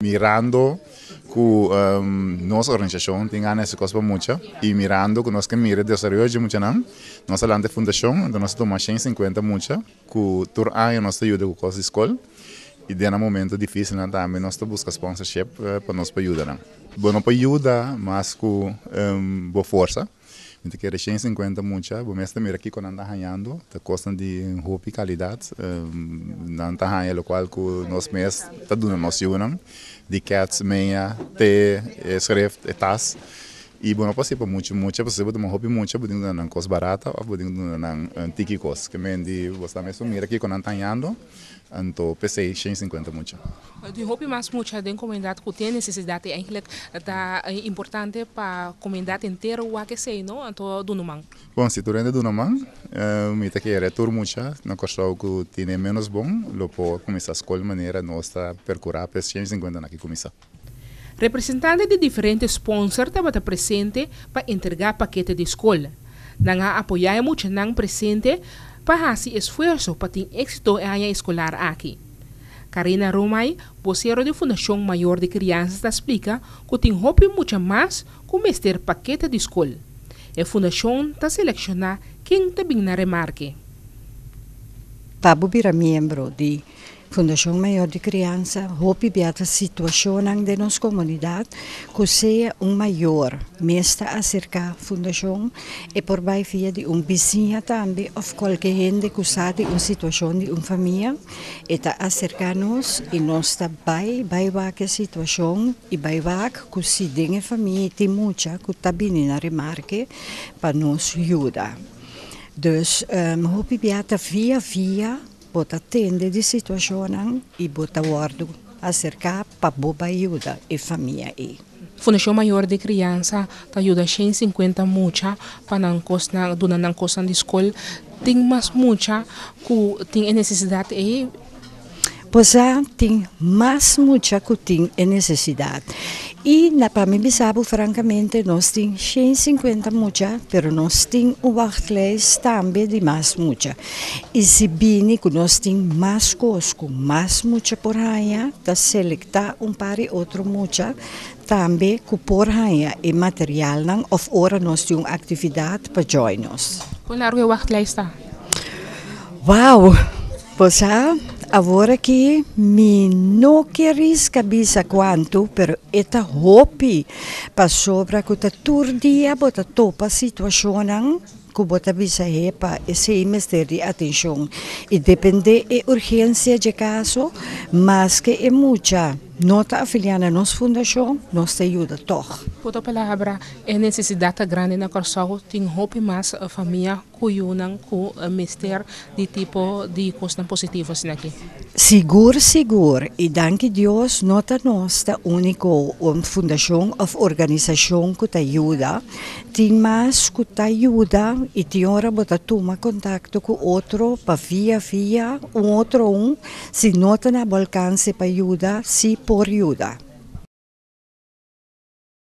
Mirando cu nos organisacion tin gana esaki cos pa mucha y mirando cu nos ke mira e desaroyo dje muchanan nos a lanta e fundacion enton nos a tuma shen sinkuenta mucha cu tur aña nos ta yuda cu cos di scol y den nan momento dificilnan tambe nos ta busca sponsorship pa nos pa yuda nan. Bo no por yuda mas cu bo forsa. Mientras ke reshen cincuenta mucha bo mes ta mira kiko nan ta hañando ta kosnan di un hopi kalidat nan ta haña lokual ku nos mes ta duna nos yunan di kèts meña te e sreft e tas i bo no por siña pa mucha mucha pasobra si bo ta duna hopi mucha bo tin ku duna nan kos barata òf bo tin ku duna nan un tiki kos ke mindi bo sa mes pa mira kiko nan ta hañando. Anto p'esei shen sinkuenta mucha. Di hopi mas mucha den komunidat ku tin nesesidat i eintlik ta importante pa komunidat entero wak esei no, anto duna man. Bon, si tur hende duna man, mi ta kere tur mucha na Kòrsou ku tin e ménos bon lo por kuminsá skol manera nos ta perkurá p'e shen sinkuentan aki kuminsá. Representante di diferente sponsor tabata presente pa entrega pakete di skol. Nan a apoya e muchanan presente pa hasi esfuerso pa tin exito e aña eskolar aki. Karina Romay, vocero di Fundacion Mayor di Crianzas ta splica cu tin hopi mucha mas cu mester pakete di skol. E fundacion ta selecciona ken ta bin na remarke. Pa bo bira miembro di Fundacion Mayor di Criansa hopi bia ta situacionnan den nos comunidad cu sea un mayor mes ta acerca Fundacion, e por bay via di un bisiña tambe of cualkier hende cu sa di un situacion di un famia, e ta acerca nos y nos ta bay, bay wak e situacion y bay wak cu si den e famia tin mucha cu ta bini na remarke pa nos yuda. Dus hopi bia ta via via. Bo ta tende di situashonnan i bo ta wòrdu aserká pa bo bai yuda e famia ei. Fundashon Mayor di Kriansa ta yuda shen sinkuenta mucha pa nan kosnan, duna nan kosnan di skol. Tin mas mucha ku tin e nesesidat ei. Bosá tin mas mucha ku tin e nesesidat. I pa mi bisa bo frankamente, nos tin shen sinkuenta mucha, pero nos tin un wàglijst tambe di mas mucha. I si bini ku nos tin mas kos ku mas mucha por haña, ta selektá un par di otro mucha tambe ku por haña e materialnan òf ora nos tin un aktividat pa djòi nos. Kon largu e wachtlijst ta? Wou! Bo sa, awor aki mi no ke riska bisa kuantu, pero e ta hopi, pasobra ku ta tur dia bo ta topa situashonnan, ku bo ta bisa e pa esei mester di atenshon i dependé e urgensia dje kaso. Maske e mucha no ta afiliá na nos fundashon, nos ta yuda tòg. Ku otro palabra, e nesesidat grandi na Kòrsou tin hopi mas famia ku yunan ku mester Di tipo di cosnan positivo asina ki. Sigur sigur y danki Dios no ta nos ta unico un fundacion of organisacion cu ta yuda, tin mas cu ta yuda y tin ora bo ta tuma contacto cu otro pa via via un otro un si no ta na bo alcance pa yuda si por yuda.